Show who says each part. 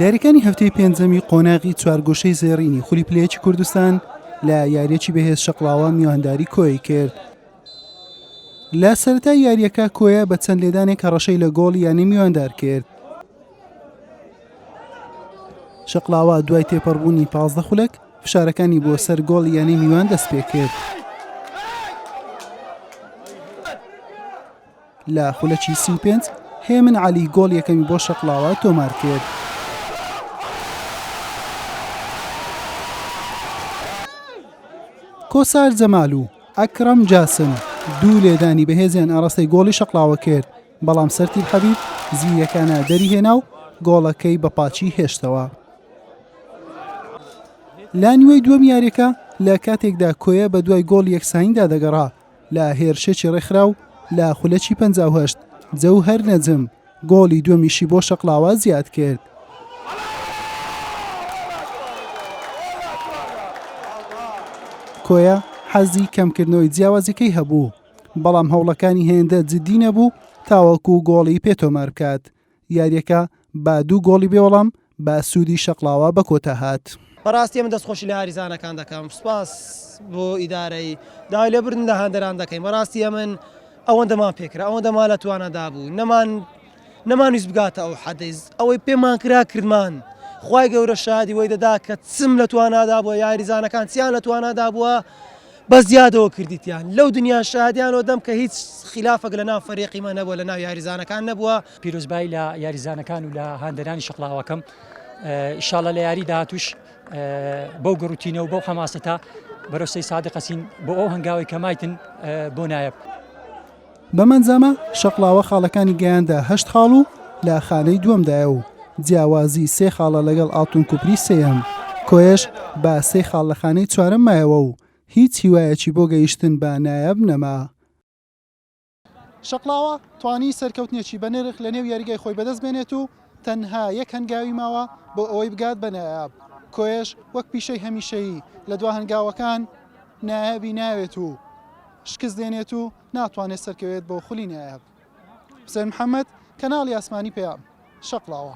Speaker 1: یاریەکانی هەفتەی پێنجەمی قۆناغی چوارگوشەی زێڕینی خولی پلەیەکی کوردستان لە یاریەکی بەهێز شەقڵاوە میوانداری کۆی کرد لە سەرتا یاریەکە کۆیە بە چەند لێدانێک هەڕەشەی لە گۆڵ یانی میواندار کرد شەقلاوە دوای تێپەڕبوونی پازدە خولک فشارەکانی بۆ سەر گۆڵ یانی میوان دەست پێ کرد لە خولەکی سی و پێنج هێمن عەلی گۆڵ یەکەمی بۆ شەقڵاوە تۆمار کرد. کۆسار جەمال و ئەکرەم جاسم دوو لێدانی بەهێزیان ئاراستەی گۆڵی شەقڵاوە کرد بەڵام سەرتیب حەبیب زیرەکانە دەری هێنا و گۆڵەکەی بە پاچی هێشتەوە لانیوەی دووەم یاریەکە لە کاتێکدا کۆیە بە دوای گۆڵ یەکسانیدا دەگەڕا لە هێرشێکی ڕێکخراو لە خولەکی پەنجا و هەشت، جەوهەر نەجم گۆڵی دووەمیشی بۆ شەقڵاوە زیادکرد. کۆیە حەزی کەمکردنەوەی جیاوازیەکەی هەبوو، بەڵام هەوڵەکانی هێندە جددی نەبوو تاوەکو گۆڵی پێ تۆمار بکات. یاریەکە بە دوو گۆڵی بێوەڵام بە سوودی شەقڵاوە بە کۆتا هات. بەڕاستی من دەستخۆشی
Speaker 2: لە یاریزانەکان دەکەم سوپاس بۆ ئیدارەی داوای لێبوردن لە هەندەران دەکەین بەڕاستی ئەمن ئەوەندەمان پێکرا ئەوەندەمان لە توانادا بوو نەمان نەمانویست بگاتە ئەو حەدەیز ئەوەی پێمان کرا کردمان خی گەورە شادی وەی دەدا کە چم لە توانادا بووە یاریزانەکان چیان لە توانادا بووە بەس زیادەوە کردیتیان لەو دنیا شادیان و دەم کە هیچ خلافەک لە ناو فەریقی مە نەبووە لە ناو یاریزانەکان نەبووە. پیرۆزبایی لە
Speaker 3: یاریزانەکان و لە هاندەرانی شەقڵاوەکەم ئیشاڵە لە یاری داهاتوش بەو گەڕوتینە و بەو حەماسەتا بەرەو سەی سادقەچین بۆ ئەو هەنگاوی کە مایتن بۆ نایەب. بەم
Speaker 1: ئەنجامە شەقڵاوە خاڵەکانی گەیاندە هەشت خاڵ و لە خانەی دووەمدایە و جیاوازی سێ خاڵە لەگەڵ ئاڵتون کوپری سێیەم. کۆیەش بە سێ خاڵ لە خانەی چوارەم مایەوە و هیچ هیوایەکی بۆ گەیشتن بە نایاب نەما. شەقڵاوە توانی سەرکەوتنێکی بەنرخ لەنێو یاریگای خۆی بەدەست بێنێت و تەنها یەک هەنگاوی ماوە بۆ ئەوەی بگات بە نایاب. کۆیەش وەک پیشەی هەمیشەیی لە دوا هەنگاوەکان نایابی ناوێت و شکست دێنێت و ناتوانێت سەرکەوێت بۆ خولی نایاب حوسێن محەمەد، کەناڵی ئاسمانی پەیام، شەقڵاوە.